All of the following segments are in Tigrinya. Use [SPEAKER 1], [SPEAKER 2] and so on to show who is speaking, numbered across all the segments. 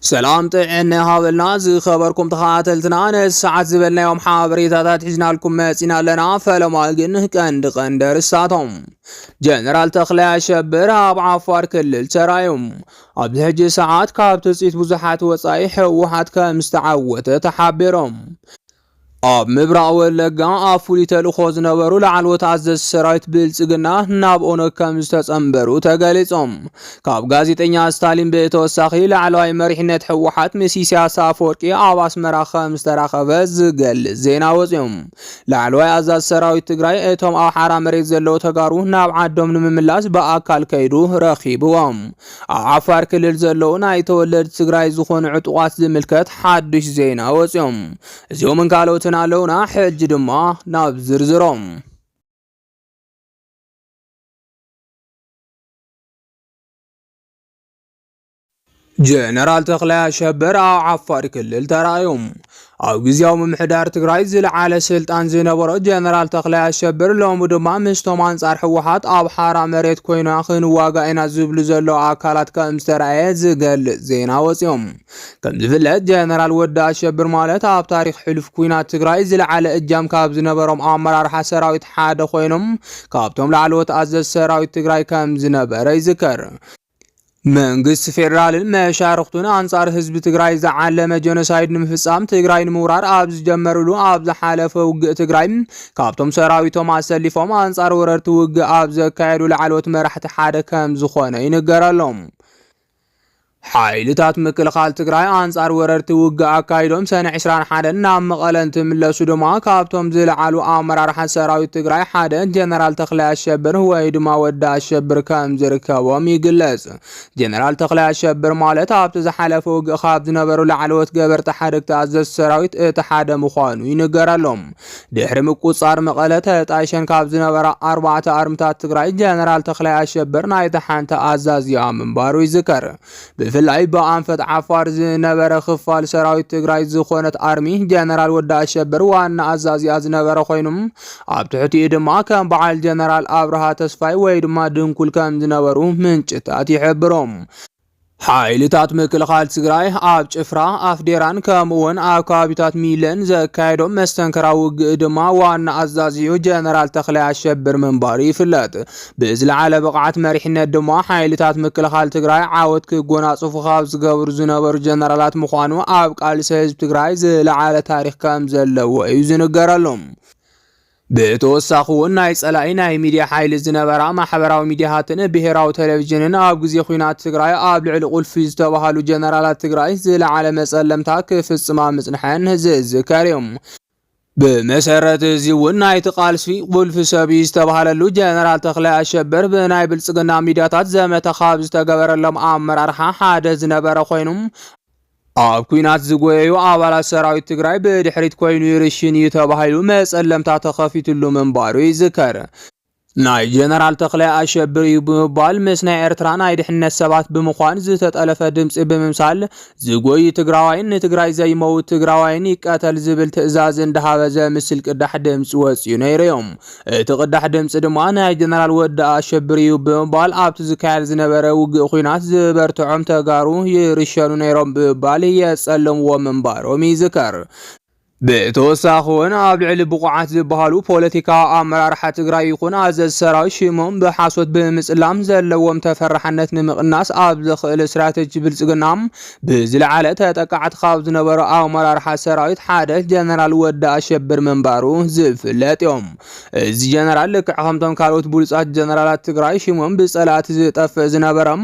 [SPEAKER 1] ሰላም ጥዕና ይሃበልና ዝኸበርኩም ተኸታተልትና ነዚ ሰዓት ዝበልናዮም ሓበሬታታት ሒዝናልኩም መጺና ኣለና። ፈለማ ግን ቀንዲ ቀንዲ ኣርእስታቶም ጀነራል ተኽላይ ኣሸብር ኣብ ዓፋር ክልል ተራዩ ኣብዚ ሕጂ ሰዓት ካብ ትጽቢት ብዙሓት ወጻኢ ህወሓት ከም ዝተዓወተ ተሓቢሮም ኣብ ምብራቕ ወለጋ ኣብ ፍሉይ ተልእኾ ዝነበሩ ላዕለዎት ኣዘዝቲ ሰራዊት ብልጽግና ናብ ኦነግ ከም ዝተጸንበሩ ተገሊጾም። ካብ ጋዜጠኛ ስታሊን ብተወሳኺ ላዕለዋይ መሪሕነት ህወሓት ምስ ኢሳያስ ኣፈወርቂ ኣብ ኣስመራ ከም ዝተራኸበ ዝገልጽ ዜና ወጺኦም። ላዕለዋይ ኣዛዝ ሰራዊት ትግራይ እቶም ኣብ ሓራ መሬት ዘለዉ ተጋሩ ናብ ዓዶም ንምምላስ ብኣካል ከይዱ ረኺብዎም። ኣብ ዓፋር ክልል ዘለዉ ናይ ተወለድቲ ትግራይ ዝኾኑ ዕጡቓት ዝምልከት ሓዱሽ ዜና ወፂኦም። እዚኦምን ካልኦትን ኣለዉና፣ ሕጂ ድማ ናብ ዝርዝሮም። ጀነራል ተኽላይ ኣሸብር ኣብ ዓፋር ክልል ተራእዮም። ኣብ ግዜያዊ ምምሕዳር ትግራይ ዝለዓለ ስልጣን ዝነበሮ ጀነራል ተኽላይ ኣሸብር ሎሚ ድማ ምስቶም ኣንጻር ህወሓት ኣብ ሓራ መሬት ኮይና ክንዋጋእ ኢና ዝብሉ ዘለዉ ኣካላት ከም ዝተራእየ ዝገልጽ ዜና ወጺኦም። ከም ዝፍለጥ ጀነራል ወዲ ኣሸብር ማለት ኣብ ታሪኽ ሕሉፍ ኩናት ትግራይ ዝለዓለ እጃም ካብ ዝነበሮም ኣመራርሓ ሰራዊት ሓደ ኮይኖም ካብቶም ላዕለዎት ኣዘዝ ሰራዊት ትግራይ ከም ዝነበረ ይዝከር። መንግስቲ ፌዴራልን መሻርኽቱን ኣንጻር ህዝቢ ትግራይ ዝዓለመ ጀኖሳይድ ንምፍጻም ትግራይ ንምውራር ኣብ ዝጀመርሉ ኣብ ዝሓለፈ ውግእ ትግራይ ካብቶም ሰራዊቶም ኣሰሊፎም ኣንጻር ወረርቲ ውግእ ኣብ ዘካየዱ ላዕለዎት መራሕቲ ሓደ ከም ዝኾነ ይንገረሎም። ሓይልታት ምክልኻል ትግራይ ኣንጻር ወረርቲ ውግእ ኣካይዶም ሰነ 21 ናብ መቐለ እንትምለሱ ድማ ካብቶም ዝለዓሉ ኣመራርሓ ሰራዊት ትግራይ ሓደ ጀነራል ተኽላይ ኣሸብር ወይ ድማ ወዲ ኣሸብር ከም ከምዝርከቦም ይግለጽ። ጀነራል ተኽላይ ኣሸብር ማለት ኣብቲ ዝሓለፈ ውግእ ካብ ዝነበሩ ላዕለዎት ገበርቲ ሓደግቲ ኣዘዝቲ ሰራዊት እቲ ሓደ ምዃኑ ይንገረሎም። ድሕሪ ምቁጽጻር መቐለ ተጣይሸን ካብ ዝነበራ ኣርባዕተ ኣርምታት ትግራይ ጀነራል ተኽላይ ኣሸብር ናይቲ ሓንቲ ኣዛዚኣ ምንባሩ ይዝከር። ብፍላይ ብኣንፈት ዓፋር ዝነበረ ክፋል ሰራዊት ትግራይ ዝኾነት ኣርሚ ጀነራል ወዲ ኣሸብር ዋና ኣዛዚኣ ዝነበረ ኮይኑ ኣብ ትሕቲኡ ድማ ከም በዓል ጀነራል ኣብርሃ ተስፋይ ወይ ድማ ድንኩል ከም ዝነበሩ ምንጭታት ይሕብሮም። ሓይልታት ምክልኻል ትግራይ ኣብ ጭፍራ ኣፍዴራን ከምኡውን ኣብ ከባቢታት ሚለን ዘካየዶም መስተንከራዊ ውግእ ድማ ዋና ኣዛዚኡ ጀነራል ተኽላይ ኣሸብር ምንባሩ ይፍለጥ። ብዝለዓለ ብቕዓት መሪሕነት ድማ ሓይልታት ምክልኻል ትግራይ ዓወት ክጎናፅፉ ካብ ዝገብሩ ዝነበሩ ጀነራላት ምዃኑ ኣብ ቃልሲ ህዝቢ ትግራይ ዝለዓለ ታሪክ ከም ዘለዎ እዩ ዝንገረሉ። ብተወሳኺ እውን ናይ ጸላኢ ናይ ሚድያ ሓይሊ ዝነበራ ማሕበራዊ ሚድያታትን ብሄራዊ ቴሌቪዥንን ኣብ ግዜ ኲናት ትግራይ ኣብ ልዕሊ ቁልፊ ዝተባህሉ ጀነራላት ትግራይ ዝለዓለ መጸለምታ ክፍጽማ ምጽንሐን ዝዝከር እዩ። ብመሰረት እዚ እውን ናይቲ ቃልሲ ቁልፊ ሰብ እዩ ዝተባሃለሉ ጀነራል ተክላይ ኣሸብር ብናይ ብልፅግና ሚድያታት ዘመተ ካብ ዝተገበረሎም ኣመራርሓ ሓደ ዝነበረ ኮይኑ ኣብ ኩናት ዝጎየዩ ኣባላት ሰራዊት ትግራይ ብድሕሪት ኮይኑ ይርሽን እዩ ተባሂሉ መፀለምታ ተኸፊትሉ ምንባሩ ይዝከር። ናይ ጀነራል ተኽላይ ኣሸብር እዩ ብምባል ምስ ናይ ኤርትራ ናይ ድሕነት ሰባት ብምዃን ዝተጠለፈ ድምፂ ብምምሳል ዝጎይ ትግራዋይን ንትግራይ ዘይመውት ትግራዋይን ይቀተል ዝብል ትእዛዝ እንዳሃበ ዘምስል ቅዳሕ ድምፂ ወፂኡ ነይሩ እዩ። እቲ ቅዳሕ ድምፂ ድማ ናይ ጀነራል ወዲ ኣሸብር እዩ ብምባል ኣብቲ ዝካየድ ዝነበረ ውግእ ኩናት ዝበርትዖም ተጋሩ ይርሸኑ ነይሮም ብምባል የፀለምዎ ምንባሮም ይዝከር። ብተወሳኺ እውን ኣብ ልዕሊ ብቑዓት ዝበሃሉ ፖለቲካዊ ኣመራርሓ ትግራይ ይኹን ኣዘዝ ሰራዊት ሽሞም ብሓሶት ብምፅላም ዘለዎም ተፈራሕነት ንምቕናስ ኣብ ዘኽእል ስትራቴጂ ብልፅግና ብዝለዓለ ተጠቃዕቲ ካብ ዝነበሩ ኣመራርሓ ሰራዊት ሓደ ጀነራል ወዲ ኣሸብር ምንባሩ ዝፍለጥ እዮም። እዚ ጀነራል ልክዕ ከምቶም ካልኦት ብሉፃት ጀነራላት ትግራይ ሽሞም ብፀላእቲ ዝጠፍእ ዝነበረም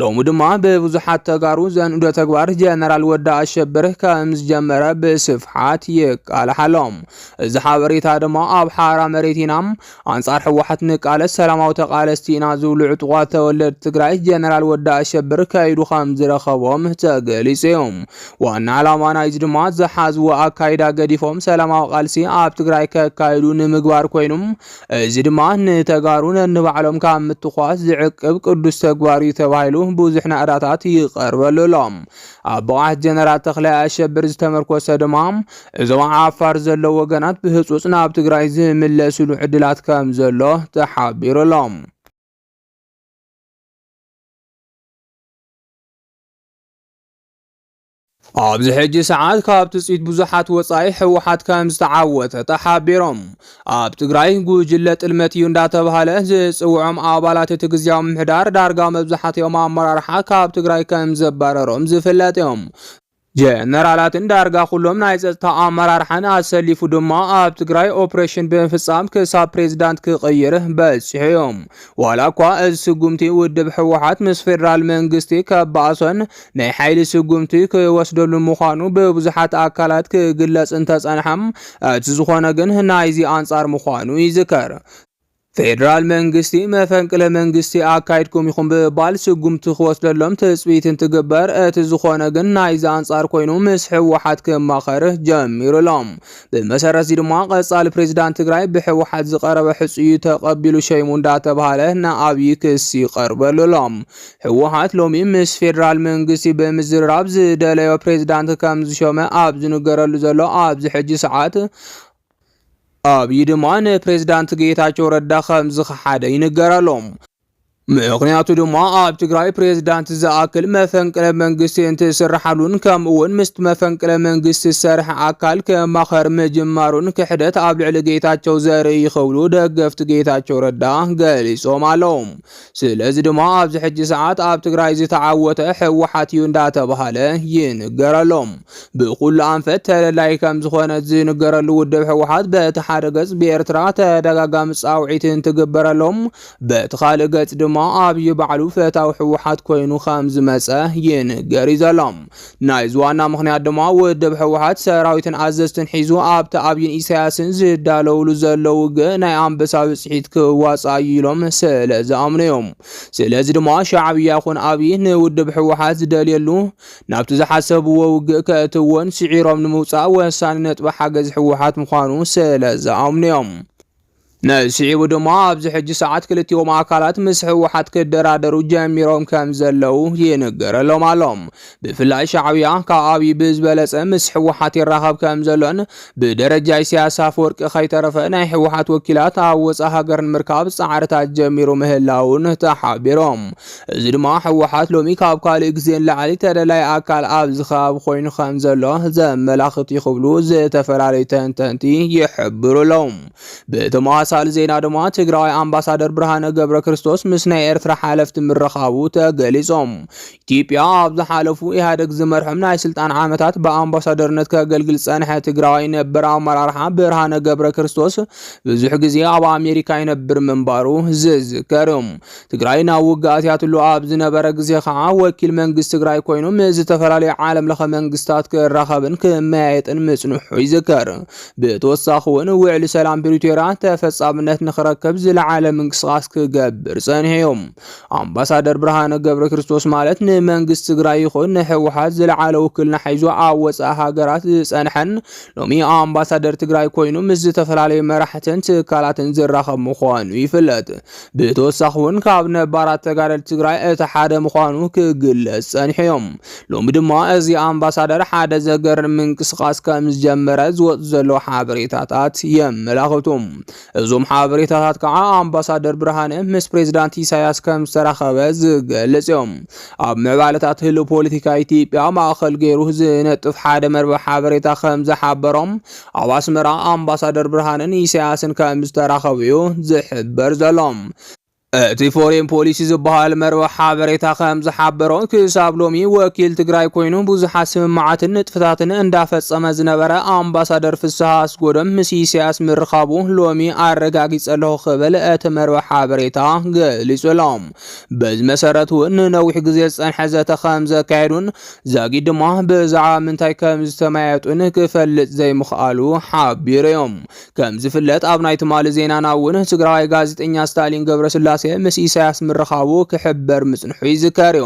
[SPEAKER 1] ሎሚ ድማ ብብዙሓት ተጋሩ ዘንእዶ ተግባር ጀነራል ወዲ ኣሸብር ከም ዝጀመረ ብስፍሓት ይቃላሕ ኣሎ። እዚ ሓበሬታ ድማ ኣብ ሓራ መሬት ኢና፣ ኣንጻር ህወሓት ንቃለስ፣ ሰላማዊ ተቃለስቲ ኢና ዝብሉ ዕጡቋት ተወለድቲ ትግራይ ጀነራል ወዲ ኣሸብር ከይዱ ከም ዝረኸቦም ተገሊጹ እዩ። ዋና ዕላማ ናይዚ ድማ ዝሓዝዎ ኣካይዳ ገዲፎም ሰላማዊ ቃልሲ ኣብ ትግራይ ከካይዱ ንምግባር ኮይኑ እዚ ድማ ንተጋሩ ነንባዕሎም ካብ ምትኳስ ዝዕቅብ ቅዱስ ተግባር እዩ ተባሂሉ ብዙሕ ናእዳታት ይቐርበሉ ኣሎ። ኣብ ብቕዓት ጀነራል ተኽላይ ኣሸብር ዝተመርኮሰ ድማ እዞም ዓፋር ዘለዉ ወገናት ብህፁፅ ናብ ትግራይ ዝምለስሉ ዕድላት ከም ዘሎ ተሓቢሩ ኣሎ። ኣብዚ ሕጂ ሰዓት ካብ ትጽቢት ብዙሓት ወጻኢ ህወሓት ከም ዝተዓወተ ተሓቢሮም። ኣብ ትግራይ ጉጅለ ጥልመት እዩ እንዳተብሃለ ዝጽውዖም ኣባላት እቲ ግዝያዊ ምምሕዳር ዳርጋ መብዛሕትኦም ኣመራርሓ ካብ ትግራይ ከም ዘባረሮም ዝፍለጥ እዮም። ጀነራላትን ዳርጋ ኩሎም ናይ ጸጥታ ኣመራርሓን ኣሰሊፉ ድማ ኣብ ትግራይ ኦፕሬሽን ብምፍጻም ክሳብ ፕሬዚዳንት ክቕይር በጺሑ እዮም። ዋላ እኳ እዚ ስጉምቲ ውድብ ህወሓት ምስ ፌደራል መንግስቲ ከባእሶን ናይ ሓይሊ ስጉምቲ ክወስደሉ ምዃኑ ብብዙሓት ኣካላት ክግለጽ እንተጸንሐ፣ እቲ ዝኾነ ግን ናይዚ ኣንጻር ምዃኑ ይዝከር። ፌደራል መንግስቲ መፈንቅለ መንግስቲ ኣካይድኩም ኢኹም ብምባል ስጉምቲ ክወስደሎም ትጽቢት እንትግበር፣ እቲ ዝኾነ ግን ናይዚ ኣንጻር ኮይኑ ምስ ህወሓት ክማኸር ጀሚሩ'ሎ። ብመሰረት እዚ ድማ ቀፃሊ ፕሬዚዳንት ትግራይ ብሕወሓት ዝቀረበ ሕፁዩ ተቀቢሉ ሸይሙ እንዳተባሃለ ንኣብዪ ክስ ይቀርበሉ ኣሎ። ህወሓት ሎሚ ምስ ፌዴራል መንግስቲ ብምዝርራብ ዝደለዮ ፕሬዚዳንት ከም ዝሾመ ኣብ ዝንገረሉ ዘሎ ኣብዚ ሕጂ ሰዓት ኣብዪ ድማ ንፕሬዚዳንት ጌታቸው ረዳ ከም ዝኸሓደ ይንገር ኣሎ። ምኽንያቱ ድማ ኣብ ትግራይ ፕሬዝዳንት ዝኣክል መፈንቅለ መንግስቲ እንትስርሓሉን ከምኡ እውን ምስቲ መፈንቅለ መንግስቲ ዝሰርሐ ኣካል ከማኸር ምጅማሩን ክሕደት ኣብ ልዕሊ ጌታቸው ዘርኢ እዩ ክብሉ ደገፍቲ ጌታቸው ረዳ ገሊፆም ኣለዉ። ስለዚ ድማ ኣብዚ ሕጂ ሰዓት ኣብ ትግራይ ዝተዓወተ ህወሓት እዩ እንዳተባሃለ ይንገረሎም። ብኩሉ ኣንፈት ተለላይ ከም ዝኾነ ዝንገረሉ ውድብ ህወሓት በቲ ሓደ ገፅ ብኤርትራ ተደጋጋሚ ፃውዒት እንትግበረሎም በቲ ካልእ ገፅ ድማ ኣብዪ ባዕሉ ፈታዊ ህወሓት ኮይኑ ከም ዝመፀ ይንገር እዩ ዘሎ። ናይዚ ዋና ምኽንያት ድማ ውድብ ህወሓት ሰራዊትን ኣዘዝትን ሒዙ ኣብቲ ኣብዪን ኢሳያስን ዝዳለውሉ ዘሎ ውግእ ናይ ኣንበሳ ብፅሒት ክዋፃእ እዩ ኢሎም ስለ ዝኣምኑ እዩ። ስለዚ ድማ ሻዕብያ ይኹን ኣብዪ ንውድብ ህወሓት ዝደልየሉ ናብቲ ዝሓሰብዎ ውግእ ከእትዎን ስዒሮም ንምውፃእ ወሳኒ ነጥቢ ሓገዝ ህወሓት ምዃኑ ስለ ዝኣምኑ እዮም። ንስዒቡ ድማ ኣብዚ ሕጂ ሰዓት ክልቲኦም ኣካላት ምስ ህወሓት ክደራደሩ ጀሚሮም ከም ዘለዉ ይንገረሎም ኣሎ። ብፍላይ ሻዕብያ ካብ ኣብዪ ብዝበለጸ ምስ ህወሓት ይራኸብ ከም ዘሎን ብደረጃ ኢሳያስ ኣፈወርቂ ከይተረፈ ናይ ህወሓት ወኪላት ኣብ ወፃ ሃገር ንምርካብ ጻዕርታት ጀሚሩ ምህላውን ተሓቢሮም። እዚ ድማ ህወሓት ሎሚ ካብ ካልእ ግዜ ንላዕሊ ተደላዪ ኣካል ኣብዚ ከባቢ ኮይኑ ከምዘሎ ዘመላኽት እዩ ክብሉ ዝተፈላለዩ ተንተንቲ ይሕብሩ ኣለዉ። ብተመሳሳሊ ዜና ድማ ትግራዋይ ኣምባሳደር ብርሃነ ገብረ ክርስቶስ ምስ ናይ ኤርትራ ሓለፍቲ ምርኻቡ ተገሊጾም። ኢትዮጵያ ኣብ ዝሓለፉ ኢህኣደግ ዝመርሖም ናይ ስልጣን ዓመታት ብኣምባሳደርነት ከገልግል ዝጸንሐ ትግራዋይ ነበር ኣመራርሓ ብርሃነ ገብረ ክርስቶስ ብዙሕ ግዜ ኣብ ኣሜሪካ ይነብር ምንባሩ ዝዝከር እዩ። ትግራይ ናብ ውግእ ኣትያትሉ ኣብ ዝነበረ ግዜ ከዓ ወኪል መንግስቲ ትግራይ ኮይኑ ምስ ዝተፈላለዩ ዓለም ለኸ መንግስታት ክራኸብን ክመያየጥን ምፅንሑ ይዝከር። ብተወሳኺ እውን ውዕሊ ሰላም ፕሪቶሪያ ተፈፃምነት ንክረከብ ዝለዓለ ምንቅስቃስ ክገብር ፀኒሑ እዩ። ኣምባሳደር ብርሃነ ገብረ ክርስቶስ ማለት ንመንግስቲ ትግራይ ይኹን ንህወሓት ዝለዓለ ውክልና ሒዙ ኣብ ወፃኢ ሃገራት ዝፀንሐን ሎሚ ኣምባሳደር ትግራይ ኮይኑ ምስ ዝተፈላለዩ መራሕትን ትካላትን ዝራኸብ ምዃኑ ይፍለጥ። ብተወሳኺ እውን ካብ ነባራት ተጋደልቲ ትግራይ እቲ ሓደ ምዃኑ ክግለጽ ጸኒሑ እዮም። ሎሚ ድማ እዚ ኣምባሳደር ሓደ ዘገርም ምንቅስቓስ ከም ዝጀመረ ዝወጽ ዘሎ ሓበሬታታት የመላኽቱ። እዞም ሓበሬታታት ከዓ ኣምባሳደር ብርሃነ ምስ ፕሬዚዳንት ኢሳያስ ከም ዝተራኸበ ዝገልጽ እዮም። ኣብ ምዕባለታት ህልው ፖለቲካ ኢትዮጵያ ማእኸል ገይሩ ዝነጥፍ ሓደ መርበብ ሓበሬታ ከም ዝሓበሮም ኣብ ኣስመራ ኣምባሳደር ብርሃነ ንኢሳያስን ከም ዝተራኸቡ እዩ ዝሕበር ዘሎ። እቲ ፎሬን ፖሊሲ ዝበሃል መርበብ ሓበሬታ ከም ዝሓበሮ ክሳብ ሎሚ ወኪል ትግራይ ኮይኑ ብዙሓት ስምምዓትን ንጥፍታትን እንዳፈጸመ ዝነበረ ኣምባሳደር ፍስሃ ኣስጎዶም ምስ ኢሳያስ ምርኻቡ ሎሚ ኣረጋጊጸ ኣለኹ ክብል እቲ መርበብ ሓበሬታ ገሊጹ ኣሎ። በዚ መሰረት እውን ንነዊሕ ግዜ ዝጸንሐ ዘተ ከም ዘካየዱን ዛጊድ ድማ ብዛዕባ ምንታይ ከም ዝተመያየጡን ክፈልጥ ዘይምኽኣሉ ሓቢሩ'ዩ። ከም ዝፍለጥ ኣብ ናይ ትማሊ ዜናና እውን ትግራዋይ ጋዜጠኛ ስታሊን ገብረስላሴ ምስ ኢሳያስ ምርኻቡ ክሕበር ምጽንሑ ይዝከር'ዩ።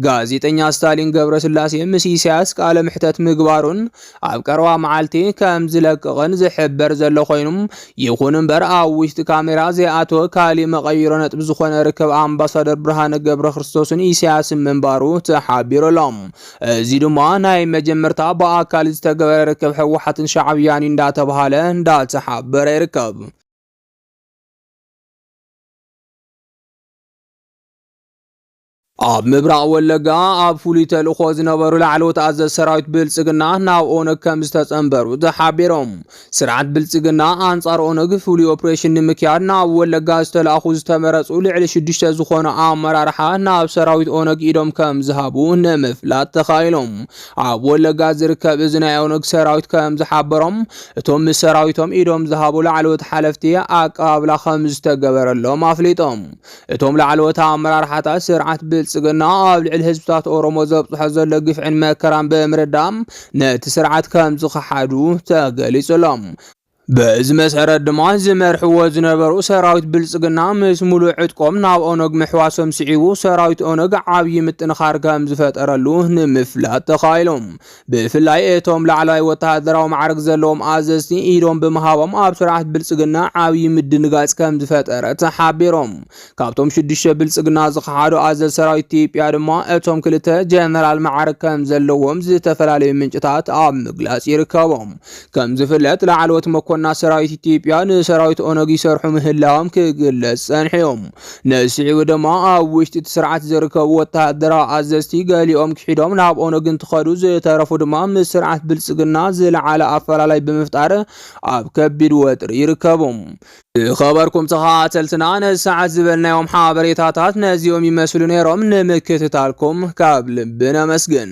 [SPEAKER 1] ጋዜጠኛ ስታሊን ገብረስላሴ ምስ ኢሳያስ ቃለ መሕተት ምግባሩን ኣብ ቀረባ መዓልቲ ከም ዝለቅቕን ዝሕበር ዘሎ ኮይኑ፣ ይኹን እምበር ኣብ ውሽጢ ካሜራ ዘይኣተወ ካሊእ መቐይሮ ነጥቢ ዝኾነ ርክብ ኣምባሳደር ብርሃነ ገብረክርስቶስን ኢሳያስን ምንባሩ ተሓቢሩ ኣሎ። እዚ ድማ ናይ መጀመርታ ብኣካል ዝተገበረ ርክብ ህወሓትን ሻዕብያን እዩ እንዳተብሃለ እንዳተሓበረ ይርከብ። ኣብ ምብራቕ ወለጋ ኣብ ፍሉይ ተልእኾ ዝነበሩ ላዕለዎት ኣዘዝ ሰራዊት ብልጽግና ናብ ኦነግ ከም ዝተጸንበሩ ተሓቢሮም። ስርዓት ብልጽግና ኣንጻር ኦነግ ፍሉይ ኦፕሬሽን ንምክያድ ናብ ወለጋ ዝተላእኹ ዝተመረጹ ልዕሊ ሽዱሽተ ዝኾኑ ኣመራርሓ ናብ ሰራዊት ኦነግ ኢዶም ከም ዝሃቡ ንምፍላጥ ተኻኢሎም። ኣብ ወለጋ ዝርከብ እዚ ናይ ኦነግ ሰራዊት ከም ዝሓበሮም እቶም ምስ ሰራዊቶም ኢዶም ዝሃቡ ላዕለዎት ሓለፍቲ ኣቀባብላ ከም ዝተገበረሎም ኣፍሊጦም። እቶም ላዕለዎት ኣመራርሓታት ስርዓት ብልጽግና ኣብ ልዕሊ ህዝብታት ኦሮሞ ዘብጽሖ ዘሎ ግፍዕን መከራን ብምርዳም ነቲ ስርዓት ከም ዝኸሓዱ ተገሊጹሎም። በዚ መሰረት ድማ ዝመርሕዎ ዝነበሩ ሰራዊት ብልጽግና ምስ ሙሉእ ዕጥቆም ናብ ኦነግ ምሕዋሶም ስዒቡ ሰራዊት ኦነግ ዓብዪ ምጥንኻር ከም ዝፈጠረሉ ንምፍላጥ ተኻኢሎም። ብፍላይ እቶም ላዕለዋይ ወተሃደራዊ ማዕርግ ዘለዎም ኣዘዝቲ ኢዶም ብምሃቦም ኣብ ስርዓት ብልጽግና ዓብዪ ምድንጋጽ ከም ዝፈጠረት ሓቢሮም። ካብቶም ሽዱሽተ ብልጽግና ዝኸሓዱ ኣዘዝ ሰራዊት ኢትዮጵያ ድማ እቶም ክልተ ጀነራል ማዕርግ ከም ዘለዎም ዝተፈላለዩ ምንጭታት ኣብ ምግላጽ ይርከቦም። ከም ዝፍለጥ ላዕለዎት መኮንናት ሰራዊት ኢትዮጵያ ንሰራዊት ኦነግ ይሰርሑ ምህላዎም ክግለጽ ጸንሑ'ዮም። ንስዒቡ ድማ ኣብ ውሽጢ እቲ ስርዓት ዝርከቡ ወተሃደራዊ ኣዘዝቲ ገሊኦም ክሒዶም ናብ ኦነግ እንትኸዱ ዝተረፉ ድማ ምስ ስርዓት ብልፅግና ዝለዓለ ኣፈላላይ ብምፍጣር ኣብ ከቢድ ወጥሪ ይርከቡ። ዝኸበርኩም ተኸታተልትና ነዚ ሰዓት ዝበልናዮም ሓበሬታታት ነዚኦም ይመስሉ ነይሮም። ንምክትታልኩም ካብ ልቢ ነመስግን።